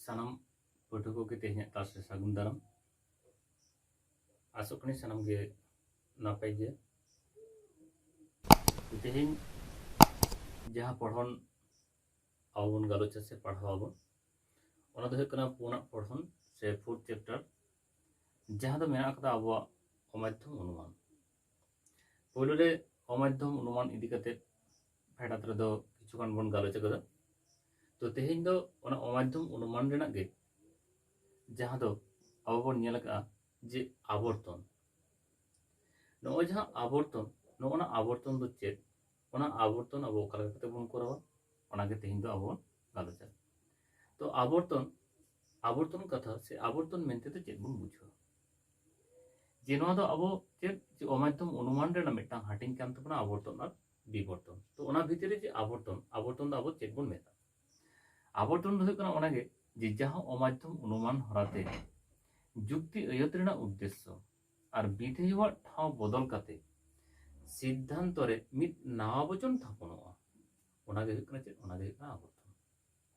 ᱥᱟᱱᱟᱢ ᱯᱟᱹᱴᱷᱩᱣᱟᱹ ᱠᱚᱜᱮ ᱛᱮᱦᱮᱧᱟᱜ ᱠᱞᱟᱥ ᱨᱮ ᱥᱟᱹᱜᱩᱱ ᱫᱟᱨᱟᱢ ᱟᱥᱚᱜ ᱠᱟᱹᱱᱟᱹᱧ ᱥᱟᱱᱟᱢ ᱜᱮ ᱱᱟᱯᱟᱭ ᱜᱮ ᱛᱚ ᱛᱮᱦᱮᱧ ᱡᱟᱦᱟᱸ ᱯᱚᱲᱦᱚᱱ ᱟᱵᱚ ᱵᱚᱱ ᱜᱟᱞᱚᱪᱟ ᱥᱮ ᱯᱟᱲᱦᱟᱣ ᱟᱵᱚᱱ ᱚᱱᱟ ᱫᱚ ᱦᱩᱭᱩᱜ ᱠᱟᱱᱟ ᱯᱩᱱᱟᱜ ᱯᱚᱲᱦᱚᱱ ᱥᱮ ᱯᱷᱳᱨᱛᱷ ᱪᱮᱯᱴᱟᱨ ᱡᱟᱦᱟᱸ ᱫᱚ ᱢᱮᱱᱟᱜ ᱟᱠᱟᱫᱟ ᱟᱵᱚᱣᱟᱜ ᱚᱢᱟᱫᱽᱫᱷᱚᱢ ᱚᱱᱩᱢᱟᱱ ᱯᱳᱭᱞᱳ ᱨᱮ ᱚᱢᱟᱫᱷᱭᱚᱢ ᱚᱱᱩᱢᱟᱱ ᱤᱫᱤ ᱠᱟᱛᱮ ᱯᱷᱮᱰᱟᱛ ᱨᱮᱫᱚ ᱠᱤᱪᱷᱩ ᱜᱟᱱ ᱵᱚᱱ ᱜᱟᱞᱚᱪ ᱟᱠᱟᱫᱟ ᱛᱚ ᱛᱮᱦᱮᱧ ᱫᱚ ᱚᱱᱟ ᱚᱢᱟᱫᱷᱭᱚᱢ ᱚᱱᱩᱢᱟᱱ ᱨᱮᱱᱟᱜ ᱜᱮ ᱡᱟᱦᱟᱸ ᱫᱚ ᱟᱵᱚ ᱵᱚᱱ ᱧᱮᱞ ᱟᱠᱟᱫᱼᱟ ᱡᱮ ᱟᱵᱚᱨᱛᱚᱱ ᱱᱚᱜᱼᱚᱭ ᱡᱟᱦᱟᱸ ᱟᱵᱚᱨᱛᱚᱱ ᱱᱚᱜᱼᱚ ᱱᱟ ᱟᱵᱚᱨᱛᱚᱱ ᱫᱚ ᱪᱮᱫ ᱚᱱᱟ ᱟᱵᱚᱨᱛᱚᱱ ᱟᱵᱚ ᱚᱠᱟ ᱞᱮᱠᱟ ᱠᱟᱛᱮ ᱵᱚᱱ ᱠᱚᱨᱟᱣᱟ ᱚᱱᱟᱜᱮ ᱛᱮᱦᱮᱧ ᱫᱚ ᱟᱵᱚ ᱵᱚᱱ ᱜᱟᱞᱚᱪᱟ ᱛᱚ ᱟᱵᱚᱨᱛᱚᱱ ᱟᱵᱚᱨᱛᱚᱱ ᱠᱟᱛᱷᱟ ᱥᱮ ᱟᱵᱚᱨᱛᱚᱱ ᱢᱮᱱᱛᱮ ᱫᱚ ᱪᱮᱫ ᱵᱚᱱ ᱵᱩᱡᱷᱟᱹᱣᱟ ᱡᱮ ᱱᱚᱣᱟ ᱫᱚ ᱟᱵᱚ ᱪᱮᱫ ᱡᱮ ᱚᱢᱟᱫᱷᱭᱚᱢ ᱚᱱᱩᱢᱟᱱ ᱨᱮᱱᱟᱜ ᱢᱤᱫᱴᱟᱝ ᱦᱟᱹᱴᱤᱧ ᱠᱟᱱ ᱛᱟᱵᱚᱱᱟ ᱟᱵᱚᱨᱛᱚᱱ ᱟᱨ ᱵᱤᱵᱚᱨᱛᱚᱱ ᱛᱚ ᱚᱱᱟ ᱵᱷᱤᱛᱤᱨ ᱨᱮ ᱡᱮ ᱟᱵᱚᱨᱛᱚᱱ ᱟᱵᱚᱨᱛᱚᱱ ᱫᱚ ᱟᱵᱚ ᱪᱮᱫ ᱵᱚᱱ ᱢᱮᱛᱟᱜᱼᱟ ᱟᱵᱚᱨᱛᱚᱱ ᱫᱚ ᱦᱩᱭᱩᱜ ᱠᱟᱱᱟ ᱚᱱᱟᱜᱮ ᱡᱮ ᱡᱟᱦᱟᱸ ᱚᱢᱟᱫᱷᱭᱚᱢ ᱚᱱᱩᱢᱟᱱ ᱦᱚᱨᱟᱛᱮ ᱡᱩᱠᱛᱤ ᱟᱹᱭᱟᱹᱛ ᱨᱮᱱᱟᱜ ᱩᱫᱽᱫᱮᱥᱥᱚ ᱟᱨ ᱵᱤᱫᱷᱮᱭᱚᱣᱟᱜ ᱴᱷᱟᱶ ᱵᱚᱫᱚᱞ ᱠᱟᱛᱮ ᱥᱤᱫᱽᱫᱷᱟᱱᱛᱚ ᱨᱮ ᱢᱤᱫ ᱱᱟᱣᱟ ᱵᱚᱪᱚᱱ ᱛᱷᱟᱯᱚᱱᱚᱜᱼᱟ ᱚᱱᱟᱜᱮ ᱦᱩᱭᱩᱜ ᱠᱟᱱᱟ ᱪᱮᱫ ᱚᱱᱟᱜᱮ ᱦᱩᱭᱩᱜ ᱠᱟᱱᱟ ᱟᱵᱚᱨᱛᱚᱱ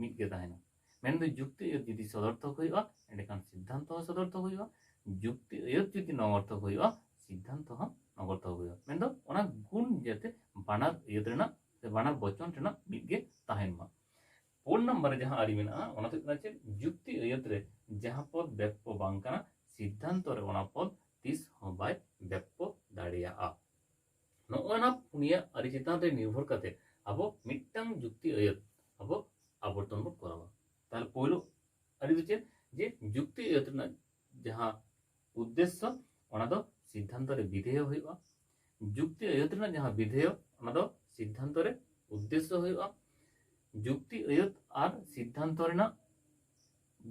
ᱢᱤᱫ ᱜᱮ ᱛᱟᱦᱮᱱᱟ ᱢᱮᱱᱫᱚ ᱡᱩᱠᱛᱤ ᱟᱹᱭᱟᱹᱛ ᱡᱩᱫᱤ ᱥᱚᱫᱚᱨᱛᱷᱚᱠ ᱦᱩᱭᱩᱜᱼᱟ ᱮᱸᱰᱮᱠᱷᱟᱱ ᱥᱤᱫᱽᱫᱷᱟᱱᱛᱚ ᱦᱚᱸ ᱥᱚᱫᱚᱨᱛᱷᱚᱠ ᱦᱩᱭᱩᱜᱼᱟ ᱡᱩᱠᱛᱤ ᱟᱹᱭᱟᱹᱛ ᱡᱩᱫᱤ ᱱᱚᱜᱚᱨᱛᱷᱚᱠ ᱦᱩᱭᱩᱜᱼᱟ ᱥᱤᱫᱽᱫᱷᱟᱱᱛᱚ ᱦᱚᱸ ᱱᱚᱜᱚᱨᱛᱷᱚᱠ ᱦᱩᱭᱩᱜᱼᱟ ᱢᱮᱱᱫᱚ ᱚᱱᱟ ᱜᱩᱱ ᱡᱟᱛᱮ ᱵᱟᱱᱟᱨ ᱟᱹᱭᱟᱹᱛ ᱨᱮᱱᱟᱜ ᱥᱮ ᱵᱟᱱᱟᱨ ᱵᱚᱪᱚᱱ ᱨᱮᱱᱟᱜ ᱢᱤᱫ ᱜᱮ ᱛᱟᱦᱮᱱ ᱢᱟ ᱯᱩᱱ ᱱᱟᱢᱵᱟᱨ ᱨᱮ ᱡᱟᱦᱟᱸ ᱟᱹᱨᱤ ᱢᱮᱱᱟᱜᱼᱟ ᱚᱱᱟ ᱫᱚ ᱦᱩᱭᱩᱜ ᱠᱟᱱᱟ ᱪᱮᱫ ᱡᱩᱠᱛᱤ ᱟᱹᱭᱟᱹᱛ ᱨᱮ ᱡᱟᱦᱟᱸ ᱯᱚᱫ ᱵᱮᱯᱠᱚ ᱵᱟᱝ ᱠᱟᱱᱟ ᱥᱤᱫᱽᱫᱷᱟᱱᱛᱚ ᱨᱮ ᱚᱱᱟ ᱯᱚᱫ ᱛᱤᱥ ᱦᱚᱸ ᱵᱟᱭ ᱵᱮᱯᱠᱚ ᱫᱟᱲᱮᱭᱟᱜᱼᱟ ᱱᱚᱜᱼᱚᱭ ᱱᱟ ᱯᱩᱱᱭᱟ ᱟᱹᱨᱤ ᱪᱮᱛᱟᱱ ᱨᱮ ᱱᱤᱨᱵᱷᱚᱨ ᱠᱟᱛᱮ ᱟᱵᱚ ᱢᱤᱫᱴᱟᱝ ᱡᱩᱠᱛᱤ ᱟᱹᱭᱟᱹᱛ ᱟᱵᱚ ᱟᱵᱚᱨᱛᱚᱱ ᱵᱚᱱ ᱠᱚᱨᱟᱣᱟ ᱛᱟᱦᱚᱞᱮ ᱯᱳᱭᱞᱳ ᱟᱹᱨᱤ ᱫᱚ ᱪᱮᱫ ᱡᱮ ᱡᱩᱠᱛᱤ ᱟᱹᱭᱟᱹᱛ ᱨᱮᱱᱟᱜ ᱡᱟᱦᱟᱸ ᱩᱫᱽᱫᱮᱥᱥᱚ ᱚᱱᱟ ᱫᱚ ᱥᱤᱫᱽᱫᱷᱟᱱᱛᱚ ᱨᱮ ᱵᱤᱫᱷᱮᱭᱚ ᱦᱩᱭᱩᱜᱼᱟ ᱡᱩᱠᱛᱤ ᱟᱹᱭᱟᱹᱛ ᱨᱮᱱᱟᱜ ᱡᱟᱦᱟᱸ ᱵᱤᱫᱷᱮᱭᱚ ᱚᱱᱟ ᱫᱚ ᱥᱤᱫᱽᱫᱷᱟᱱᱛᱚ ᱨᱮ ᱩᱫᱽᱫᱮᱥᱥᱚ ᱦᱩᱭᱩᱜᱼᱟ ᱡᱩᱠᱛᱤ ᱟᱹᱭᱟᱹᱛ ᱟᱨ ᱥᱤᱫᱽᱫᱷᱟᱱᱛᱚ ᱨᱮᱱᱟᱜ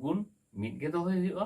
ᱜᱩᱱ ᱢᱤᱫ ᱜᱮ ᱫᱚᱦᱚᱭ ᱦᱩᱭᱩᱜᱼᱟ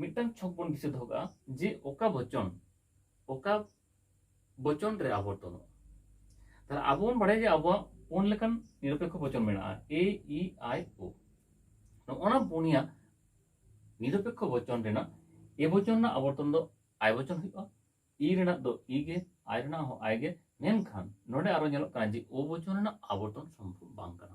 ᱢᱤᱫᱴᱟᱝ ᱪᱷᱚᱠ ᱵᱚᱱ ᱫᱤᱥᱟᱹ ᱫᱚᱦᱚ ᱠᱟᱜᱼᱟ ᱡᱮ ᱚᱠᱟ ᱵᱚᱪᱚᱱ ᱚᱠᱟ ᱵᱚᱪᱚᱱ ᱨᱮ ᱟᱵᱚᱨᱛᱚᱱᱚᱜᱼᱟ ᱛᱟᱦᱞᱮ ᱟᱵᱚ ᱵᱚᱱ ᱵᱟᱲᱟᱭᱟ ᱡᱮ ᱟᱵᱚᱣᱟᱜ ᱯᱩᱱ ᱞᱮᱠᱟᱱ ᱱᱤᱨᱚᱯᱮᱠᱷᱚ ᱵᱚᱪᱚᱱ ᱢᱮᱱᱟᱜᱼᱟ ᱮ ᱤ ᱟᱭ ᱳ ᱱᱚᱜᱼᱚᱱᱟ ᱯᱩᱱᱭᱟ ᱱᱤᱨᱚᱯᱮᱠᱷᱚ ᱵᱚᱪᱚᱱ ᱨᱮᱱᱟᱜ ᱮ ᱵᱚᱪᱚᱱ ᱨᱮᱱᱟᱜ ᱟᱵᱚᱨᱛᱚᱱ ᱫᱚ ᱟᱭ ᱵᱚᱪᱚᱱ ᱦᱩᱭᱩᱜᱼᱟ ᱤ ᱨᱮᱱᱟᱜ ᱫᱚ ᱤ ᱜᱮ ᱟᱭ ᱨᱮᱱᱟᱜ ᱦᱚᱸ ᱟᱭ ᱜᱮ ᱢᱮᱱᱠᱷᱟᱱ ᱱᱚᱰᱮ ᱟᱨᱚ ᱧᱮᱞᱚᱜ ᱠᱟᱱᱟ ᱡᱮ ᱳ ᱵᱚᱪᱚᱱ ᱨᱮᱱᱟᱜ ᱟᱵᱚᱨᱛᱚᱱ ᱥᱚᱢᱵᱷᱚᱵ ᱵᱟᱝ ᱠᱟᱱᱟ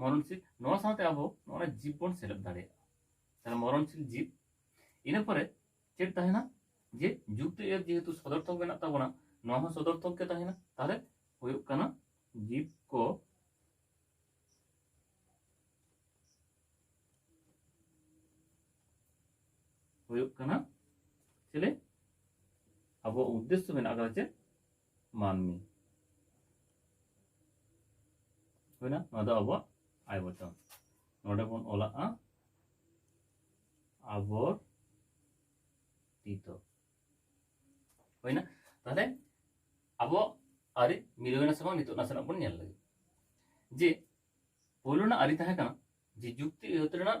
ᱢᱚᱨᱚᱱᱥᱤᱞ ᱱᱚᱣᱟ ᱥᱟᱶᱛᱮ ᱟᱵᱚ ᱱᱚᱣᱟ ᱡᱤᱵ ᱵᱚᱱ ᱥᱮᱞᱮᱫ ᱫᱟᱲᱮᱭᱟᱜᱼᱟ ᱛᱟᱦᱚᱞᱮ ᱢᱚᱨᱚᱱᱥᱤᱞ ᱡᱤᱵ ᱤᱱᱟᱹ ᱯᱚᱨᱮ ᱪᱮᱫ ᱛᱟᱦᱮᱱᱟ ᱡᱮ ᱡᱩᱠᱛᱤ ᱮᱨ ᱡᱮᱦᱮᱛᱩ ᱥᱚᱫᱚᱨᱛᱷᱚᱠ ᱢᱮᱱᱟᱜ ᱛᱟᱵᱚᱱᱟ ᱱᱚᱣᱟ ᱦᱚᱸ ᱥᱚᱫᱚᱨᱛᱷᱚᱠ ᱜᱮ ᱛᱟᱦᱮᱱᱟ ᱛᱟᱦᱚᱞᱮ ᱦᱩᱭᱩᱜ ᱠᱟᱱᱟ ᱡᱤᱵ ᱠᱚ ᱦᱩᱭᱩᱜ ᱠᱟᱱᱟ ᱪᱮᱞᱮ ᱟᱵᱚ ᱩᱫᱽᱫᱮᱥᱥᱚ ᱢᱮᱱᱟᱜ ᱟᱠᱟᱫᱟ ᱪᱮᱫ ᱢᱟᱹᱱᱢᱤ ᱦᱩᱭᱱᱟ ᱱᱚᱣᱟ ᱫᱚ ᱟᱵᱚᱣᱟᱜ ᱟᱭ ᱵᱚᱪᱚᱱ ᱱᱚᱰᱮ ᱵᱚᱱ ᱚᱞᱟᱜᱼᱟ ᱟᱵᱚᱨᱛᱤᱛᱚ ᱦᱩᱭᱱᱟ ᱛᱟᱦᱞᱮ ᱟᱵᱚᱣᱟᱜ ᱟᱹᱨᱤ ᱢᱤᱞᱟᱹᱣᱮᱱᱟ ᱥᱮ ᱵᱟᱝ ᱱᱤᱛᱚᱜ ᱱᱟᱥᱮᱱᱟᱜ ᱵᱚᱱ ᱧᱮᱞ ᱞᱮᱜᱮ ᱡᱮ ᱯᱳᱭᱞᱳ ᱨᱮᱱᱟᱜ ᱟᱹᱨᱤ ᱛᱟᱦᱮᱸ ᱠᱟᱱᱟ ᱡᱮ ᱡᱩᱠᱛᱤ ᱟᱹᱭᱟᱹᱛ ᱨᱮᱱᱟᱜ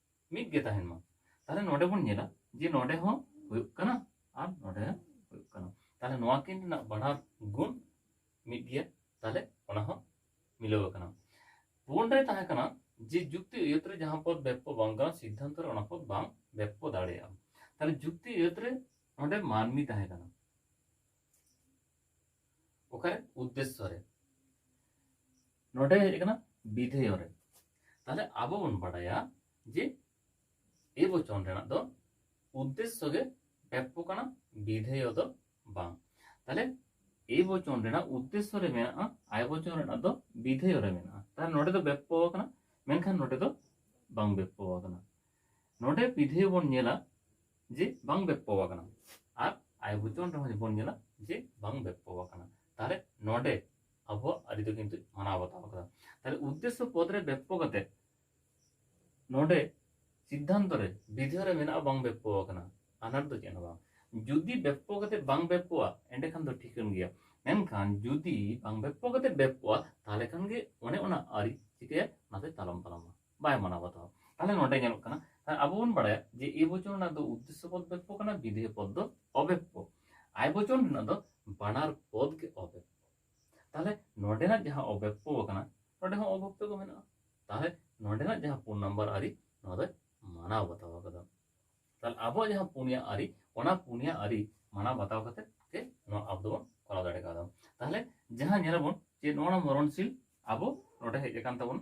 ᱢᱤᱫ ᱜᱮ ᱛᱟᱦᱮᱱ ᱢᱟ ᱛᱟᱦᱞᱮ ᱱᱚᱰᱮ ᱵᱚᱱ ᱧᱮᱞᱟ ᱡᱮ ᱱᱚᱰᱮ ᱦᱚᱸ ᱦᱩᱭᱩᱜ ᱠᱟᱱᱟ ᱟᱨ ᱱᱚᱰᱮ ᱦᱚᱸ ᱦᱩᱭᱩᱜ ᱠᱟᱱᱟ ᱛᱟᱦᱞᱮ ᱱᱚᱣᱟ ᱠᱤᱱ ᱨᱮᱱᱟᱜ ᱵᱟᱱᱟᱨ ᱜᱩᱱ ᱢᱤᱫ ᱜᱮᱭᱟ ᱛᱟᱦᱞᱮ ᱚᱱᱟ ᱦᱚᱸ ᱢᱤᱞᱟᱹᱣ ᱟᱠᱟᱱᱟ ᱯᱩᱱ ᱨᱮ ᱛᱟᱦᱮᱸ ᱠᱟᱱᱟ ᱡᱮ ᱡᱩᱠᱛᱤ ᱟᱹᱭᱟᱹᱛ ᱨᱮ ᱡᱟᱦᱟᱸ ᱯᱚᱫ ᱵᱮᱯᱚ ᱵᱟᱝ ᱠᱟᱱᱟ ᱥᱤᱫᱽᱫᱷᱟᱱᱛᱚ ᱨᱮ ᱚᱱᱟ ᱯᱚᱫ ᱵᱟᱝ ᱵᱮᱯᱚ ᱫᱟᱲᱮᱭᱟᱜᱼᱟ ᱛᱟᱦᱞᱮ ᱡᱩᱠᱛᱤ ᱟᱹᱭᱟᱹᱛ ᱨᱮ ᱱᱚᱰᱮ ᱢᱟᱹᱱᱢᱤ ᱛᱟᱦᱮᱸ ᱠᱟᱱᱟ ᱚᱠᱟᱨᱮ ᱩᱫᱽᱫᱮᱥᱥᱚ ᱨᱮ ᱱᱚᱰᱮ ᱦᱮᱡ ᱟᱠᱟᱱᱟ ᱵᱤᱫᱷᱮᱭᱚ ᱨᱮ ᱛᱟᱦᱞᱮ ᱟᱵᱚ ᱵᱚᱱ ᱵᱟᱰᱟᱭᱟ ᱡᱮ ᱮ ᱵᱚᱪᱚᱱ ᱨᱮᱱᱟᱜ ᱫᱚ ᱩᱫᱽᱫᱮᱥᱥᱚ ᱜᱮ ᱵᱮᱯᱚ ᱠᱟᱱᱟ ᱵᱤᱫᱷᱮᱭᱚ ᱫᱚ ᱵᱟᱝ ᱛᱟᱦᱞᱮ ᱮ ᱵᱚᱪᱚᱱ ᱨᱮᱱᱟᱜ ᱩᱫᱽᱫᱮᱥᱥᱚ ᱨᱮ ᱢᱮᱱᱟᱜᱼᱟ ᱟᱭ ᱵᱚᱪᱚᱱ ᱨᱮᱱᱟᱜ ᱫᱚ ᱵᱤᱫᱷᱮᱭᱚ ᱨᱮ ᱢᱮᱱᱟᱜᱼᱟ ᱛᱟᱦᱞᱮ ᱱᱚᱰᱮ ᱫᱚ ᱵᱮᱯᱚ ᱟᱠᱟᱱᱟ ᱢᱮᱱᱠᱷᱟᱱ ᱱᱚᱰᱮ ᱫᱚ ᱵᱟᱝ ᱵᱮᱯᱚ ᱟᱠᱟᱱᱟ ᱱᱚᱰᱮ ᱯᱤᱫᱷᱮ ᱵᱚᱱ ᱧᱮᱞᱟ ᱡᱮ ᱵᱟᱝ ᱵᱮᱯᱯᱚ ᱟᱠᱟᱱᱟ ᱟᱨ ᱟᱭ ᱵᱚᱪᱚᱱ ᱨᱮᱦᱚᱸ ᱵᱚᱱ ᱧᱮᱞᱟ ᱡᱮ ᱵᱟᱝ ᱵᱮᱯᱯᱚ ᱟᱠᱟᱱᱟ ᱛᱟᱦᱚᱞᱮ ᱱᱚᱰᱮ ᱟᱵᱚᱣᱟᱜ ᱟᱹᱨᱤ ᱫᱚ ᱠᱤᱱᱛᱩ ᱢᱟᱱᱟᱣ ᱵᱟᱛᱟᱣ ᱟᱠᱟᱫᱟ ᱛᱟᱦᱚᱞᱮ ᱩᱫᱽᱫᱮᱥᱥᱚ ᱯᱚᱫ ᱨᱮ ᱵᱮᱯᱯᱚ ᱠᱟᱛᱮ ᱱᱚᱰᱮ ᱥᱤᱫᱽᱫᱷᱟᱱᱛᱚ ᱨᱮ ᱵᱤᱫᱷᱮ ᱨᱮ ᱢᱮᱱᱟᱜᱼᱟ ᱵᱟᱝ ᱵᱮᱯᱯᱚ ᱟᱠᱟᱱᱟ ᱟᱱᱟᱴ ᱫᱚ ᱪᱮᱫ ᱦᱚᱸ ᱵᱟᱝ ᱡᱩᱫᱤ ᱵᱮᱯᱯᱚ ᱠᱟᱛᱮ ᱵᱟᱝ ᱵᱮᱯᱯᱚᱜᱼᱟ ᱮᱸᱰᱮᱠᱷᱟᱱ ᱫᱚ ᱴᱷᱤᱠᱟᱹᱱ ᱜᱮᱭᱟ ᱢᱮᱱᱠᱷᱟᱱ ᱡᱩᱫᱤ ᱵᱟᱝ ᱵᱮᱯᱯᱚ ᱠᱟᱛᱮ ᱵᱮᱯᱯᱚᱜᱼᱟ ᱛᱟᱦᱚᱞᱮ ᱠᱷᱟᱱ ᱜᱮ ᱚᱱᱮ ᱚᱱᱟ ᱟᱹᱨᱤ ᱪᱤᱠᱟᱹᱭᱟ ᱚᱱᱟ ᱫᱚᱭ ᱛᱟᱞᱚᱢ ᱯᱟᱞᱚᱢᱟ ᱵᱟᱭ ᱢᱟᱱᱟᱣ ᱵᱟᱛᱟᱣᱟ ᱛᱟᱦᱚᱞᱮ ᱱᱚᱰᱮ ᱧᱮᱞᱚᱜ ᱠᱟᱱᱟ ᱟᱵᱚ ᱵᱚᱱ ᱵᱟᱲᱟᱭᱟ ᱡᱮ ᱮ ᱵᱚᱪᱚᱱ ᱨᱮᱱᱟᱜ ᱫᱚ ᱩᱫᱽᱫᱮᱥᱥᱚ ᱯᱚᱫ ᱵᱮᱯᱚ ᱠᱟᱱᱟ ᱵᱤᱫᱷᱮᱭ ᱯᱚᱫ ᱫᱚ ᱚᱵᱮᱯᱚ ᱟᱭ ᱵᱚᱪᱚᱱ ᱨᱮᱱᱟᱜ ᱫᱚ ᱵᱟᱱᱟᱨ ᱯᱚᱫ ᱜᱮ ᱚᱵᱮᱯᱚ ᱛᱟᱦᱚᱞᱮ ᱱᱚᱰᱮᱱᱟᱜ ᱡᱟᱦᱟᱸ ᱚᱵᱮᱯᱚ ᱠᱟᱱᱟ ᱱᱚᱰᱮ ᱦᱚᱸ ᱚᱵᱮᱯᱚ ᱜᱮ ᱢᱮᱱᱟᱜᱼᱟ ᱛᱟᱦᱚᱞᱮ ᱱᱚᱰᱮᱱᱟᱜ ᱡᱟᱦᱟᱸ ᱯᱩᱱ ᱱᱟᱢᱵᱟᱨ ᱟᱹᱨᱤ ᱱᱚᱣᱟ ᱫᱚᱭ ᱢᱟᱱᱟᱣ ᱵᱟᱛᱟᱣ ᱟᱠᱟᱫᱟ ᱛᱟᱦᱚᱞᱮ ᱟᱵᱚᱣᱟᱜ ᱡᱟᱦᱟᱸ ᱯᱩᱱᱭᱟ ᱟᱹᱨᱤ ᱚᱱᱟ ᱯᱩᱱᱭᱟ ᱟᱹᱨᱤ ᱢᱟᱱᱟᱣ ᱵᱟᱛᱟᱣ ᱠᱟᱛᱮ ᱜᱮ ᱱᱚᱣᱟ ᱟᱵᱚ ᱫᱚᱵᱚᱱ ᱠᱚᱨᱟᱣ ᱫᱟᱲᱮ ᱠᱟᱣᱫᱟ ᱛᱟᱦᱚᱞᱮ ᱡᱟᱦᱟᱸ ᱧᱮᱞᱟᱵᱚᱱ ᱡᱮ ᱱᱚᱣᱟ ᱢᱚᱨᱚᱱᱥᱤᱞ ᱟᱵᱚ ᱱᱚᱰᱮ ᱦᱮᱡ ᱟᱠᱟᱱ ᱛᱟᱵᱚᱱᱟ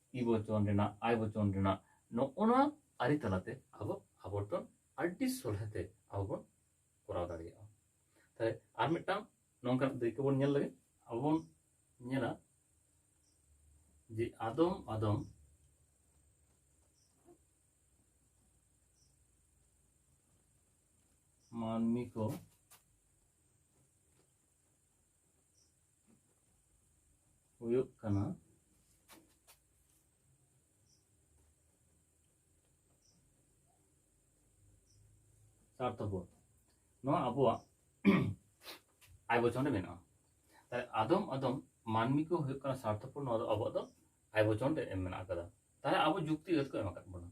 ᱤ ᱵᱚᱪᱚᱱ ᱨᱮᱱᱟᱜ ᱟᱭ ᱵᱚᱪᱚᱱ ᱨᱮᱱᱟᱜ ᱱᱚᱜᱼᱚ ᱱᱚᱣᱟ ᱟᱹᱨᱤ ᱛᱟᱞᱟᱛᱮ ᱟᱵᱚ ᱟᱵᱚᱨᱛᱚᱱ ᱟᱹᱰᱤ ᱥᱚᱞᱦᱮᱛᱮ ᱟᱵᱚ ᱵᱚᱱ ᱠᱚᱨᱟᱣ ᱫᱟᱲᱮᱭᱟᱜᱼᱟ ᱛᱟᱦᱞᱮ ᱟᱨ ᱢᱤᱫᱴᱟᱝ ᱱᱚᱝᱠᱟᱱᱟᱜ ᱫᱟᱹᱭᱠᱟᱹ ᱵᱚᱱ ᱧᱮᱞ ᱞᱮᱜᱮ ᱟᱵᱚ ᱵᱚᱱ ᱧᱮᱞᱟ ᱡᱮ ᱟᱫᱚᱢ ᱟᱫᱚᱢ ᱢᱟᱹᱱᱢᱤ ᱠᱚ ᱦᱩᱭᱩᱜ ᱠᱟᱱᱟ ᱥᱟᱨᱛᱷᱚᱯᱚᱫ ᱱᱚᱣᱟ ᱟᱵᱚᱣᱟᱜ ᱟᱭ ᱵᱚᱪᱚᱱ ᱨᱮ ᱢᱮᱱᱟᱜᱼᱟ ᱛᱟᱦᱞᱮ ᱟᱫᱚᱢ ᱟᱫᱚᱢ ᱢᱟᱹᱱᱢᱤ ᱠᱚ ᱦᱩᱭᱩᱜ ᱠᱟᱱᱟ ᱥᱟᱨᱛᱷᱚᱯᱚᱫ ᱱᱚᱣᱟ ᱫᱚ ᱟᱵᱚᱣᱟᱜ ᱫᱚ ᱟᱭ ᱵᱚᱪᱚᱱ ᱨᱮ ᱮᱢ ᱢᱮᱱᱟᱜ ᱟᱠᱟᱫᱟ ᱛᱟᱦᱞᱮ ᱟᱵᱚ ᱡᱩᱠᱛᱤ ᱟᱹᱛ ᱠᱚ ᱮᱢ ᱟᱠᱟᱫ ᱵᱚᱱᱟ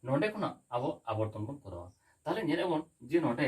ᱱᱚᱰᱮ ᱠᱷᱚᱱᱟᱜ ᱟᱵᱚ ᱟᱵᱚᱨᱛᱚᱱ ᱵᱚᱱ ᱠᱚᱨᱟᱣᱟ ᱛᱟᱦᱞᱮ ᱧᱮᱞᱮᱫ ᱵᱚᱱ ᱡᱮ ᱱᱚᱰᱮ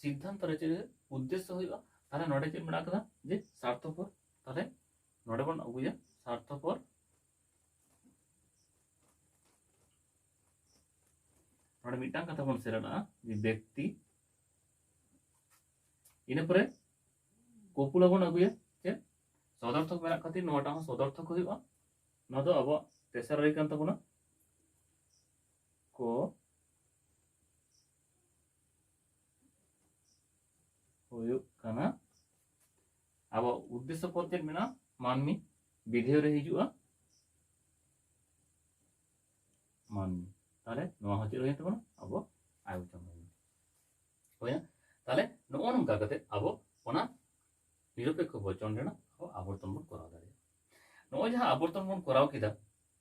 ᱥᱤᱫᱽᱫᱷᱟᱱᱛᱚ ᱨᱮ ᱪᱮᱫ ᱩᱫᱽᱫᱮᱥᱥᱚ ᱦᱩᱭᱩᱜᱼᱟ ᱛᱟᱦᱚᱞᱮ ᱱᱚᱰᱮ ᱪᱮᱫ ᱢᱮᱱᱟᱜ ᱟᱠᱟᱫᱟ ᱡᱮ ᱥᱟᱨᱛᱷᱚᱯᱚᱨ ᱛᱟᱦᱚᱞᱮ ᱱᱚᱰᱮ ᱵᱚᱱ ᱟᱹᱜᱩᱭᱟ ᱥᱟᱨᱛᱷᱚᱯᱚᱨ ᱱᱚᱰᱮ ᱢᱤᱫᱴᱟᱝ ᱠᱟᱛᱷᱟ ᱵᱚᱱ ᱥᱮᱞᱮᱫᱟᱜᱼᱟ ᱡᱮ ᱵᱮᱠᱛᱤ ᱤᱱᱟᱹ ᱯᱚᱨᱮ ᱠᱚᱯᱩᱞᱟ ᱵᱚᱱ ᱟᱹᱜᱩᱭᱟ ᱪᱮᱫ ᱥᱚᱫᱚᱨᱛᱷᱚᱠ ᱢᱮᱱᱟᱜ ᱠᱷᱟᱹᱛᱤᱨ ᱱᱚᱣᱟᱴᱟᱜ ᱦᱚᱸ ᱥᱚᱫᱚᱨᱛᱷᱚᱠ ᱦᱩᱭᱩᱜᱼᱟ ᱱᱚᱣᱟ ᱫᱚ ᱟᱵᱚᱣᱟᱜ ᱛᱮᱥᱟᱨ ᱨᱮ ᱠᱟᱱ ᱛᱟᱵᱚᱱᱟ ᱠᱚ ᱦᱩᱭᱩᱜ ᱠᱟᱱᱟ ᱟᱵᱚ ᱩᱫᱽᱫᱮᱥᱥᱚ ᱯᱚᱫ ᱪᱮᱫ ᱢᱮᱱᱟᱜᱼᱟ ᱢᱟᱹᱱᱢᱤ ᱵᱤᱫᱷᱮᱭ ᱨᱮ ᱦᱤᱡᱩᱜᱼᱟ ᱢᱟᱹᱱᱢᱤ ᱛᱟᱦᱚᱞᱮ ᱱᱚᱣᱟ ᱦᱚᱸ ᱪᱮᱫ ᱦᱩᱭᱮᱱ ᱛᱟᱵᱚᱱᱟ ᱟᱵᱚ ᱟᱭᱚᱛᱚᱱ ᱦᱩᱭᱮᱱ ᱦᱩᱭᱱᱟ ᱛᱟᱦᱚᱞᱮ ᱱᱚᱜᱼᱚ ᱱᱚᱝᱠᱟ ᱠᱟᱛᱮ ᱟᱵᱚ ᱚᱱᱟ ᱱᱤᱨᱚᱯᱮᱠᱠᱷᱚ ᱵᱚᱪᱚᱱ ᱨᱮᱱᱟᱜ ᱟᱵᱚ ᱟᱵᱚᱨᱛᱚᱱ ᱵᱚᱱ ᱠᱚᱨᱟᱣ ᱫᱟᱲᱮᱭᱟᱜᱼᱟ ᱱᱚᱜᱼᱚᱭ ᱡᱟᱦᱟᱸ ᱟᱵᱚᱨᱛᱚᱱ ᱵᱚᱱ ᱠᱚᱨᱟᱣ ᱠᱮᱫᱟ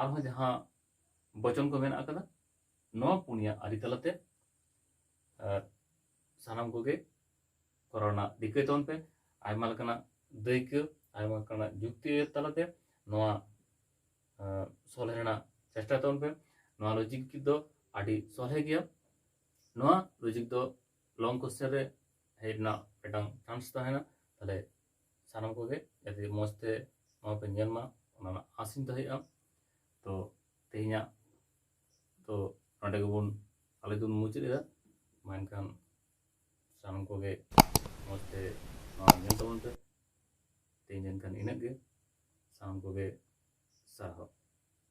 ᱟᱨᱦᱚᱸ ᱡᱟᱦᱟᱸ ᱵᱚᱪᱚᱱ ᱠᱚ ᱢᱮᱱᱟᱜ ᱟᱠᱟᱫᱟ ᱱᱚᱣᱟ ᱯᱩᱱᱭᱟ ᱟᱹᱨᱤ ᱛᱟᱞᱟᱛᱮ ᱥᱟᱱᱟᱢ ᱠᱚᱜᱮ ᱠᱚᱨᱟᱣ ᱨᱮᱱᱟᱜ ᱨᱤᱠᱟᱹᱭ ᱛᱟᱵᱚᱱ ᱯᱮ ᱟᱭᱢᱟ ᱞᱮᱠᱟᱱᱟᱜ ᱫᱟᱹᱭᱠᱟᱹ ᱟᱭᱢᱟ ᱞᱮᱠᱟᱱᱟᱜ ᱡᱩᱠᱛᱤ ᱛᱟᱞᱟᱛᱮ ᱱᱚᱣᱟ ᱥᱚᱞᱦᱮ ᱨᱮᱱᱟᱜ ᱪᱮᱥᱴᱟᱭ ᱛᱟᱵᱚᱱ ᱯᱮ ᱱᱚᱣᱟ ᱞᱚᱡᱤᱠ ᱫᱚ ᱟᱹᱰᱤ ᱥᱚᱞᱦᱮ ᱜᱮᱭᱟ ᱱᱚᱣᱟ ᱞᱚᱡᱤᱠ ᱫᱚ ᱞᱚᱝ ᱠᱚᱥᱪᱮᱱ ᱨᱮ ᱦᱮᱡ ᱨᱮᱱᱟᱜ ᱢᱤᱫᱴᱟᱝ ᱪᱟᱱᱥ ᱛᱟᱦᱮᱱᱟ ᱛᱟᱦᱞᱮ ᱥᱟᱱᱟᱢ ᱠᱚᱜᱮ ᱡᱟᱛᱮ ᱢᱚᱡᱽ ᱛᱮ ᱱᱚᱣᱟ ᱯᱮ ᱧᱮᱞ ᱢᱟ ᱚᱱᱟ ᱨᱮᱱᱟᱜ ᱟᱥᱤᱧ ᱫᱚᱦᱚᱭᱮᱫᱼᱟ ᱛᱚ ᱛᱮᱦᱮᱧᱟᱜ ᱛᱚ ᱱᱚᱰᱮ ᱜᱮᱵᱚᱱ ᱟᱞᱮ ᱫᱚᱵᱚᱱ ᱢᱩᱪᱟᱹᱫ ᱮᱫᱟ ᱢᱟ ᱮᱱᱠᱷᱟᱱ ᱥᱟᱱᱟᱢ ᱠᱚᱜᱮ ᱢᱚᱡᱽ ᱛᱮ ᱱᱚᱣᱟ ᱧᱮᱞ ᱛᱟᱵᱚᱱ ᱯᱮ ᱛᱮᱦᱮᱧ ᱮᱱᱠᱷᱟᱱ ᱤᱱᱟᱹᱜ ᱜᱮ ᱥᱟᱱᱟᱢ ᱠᱚᱜᱮ ᱥᱟᱨᱦᱟᱣ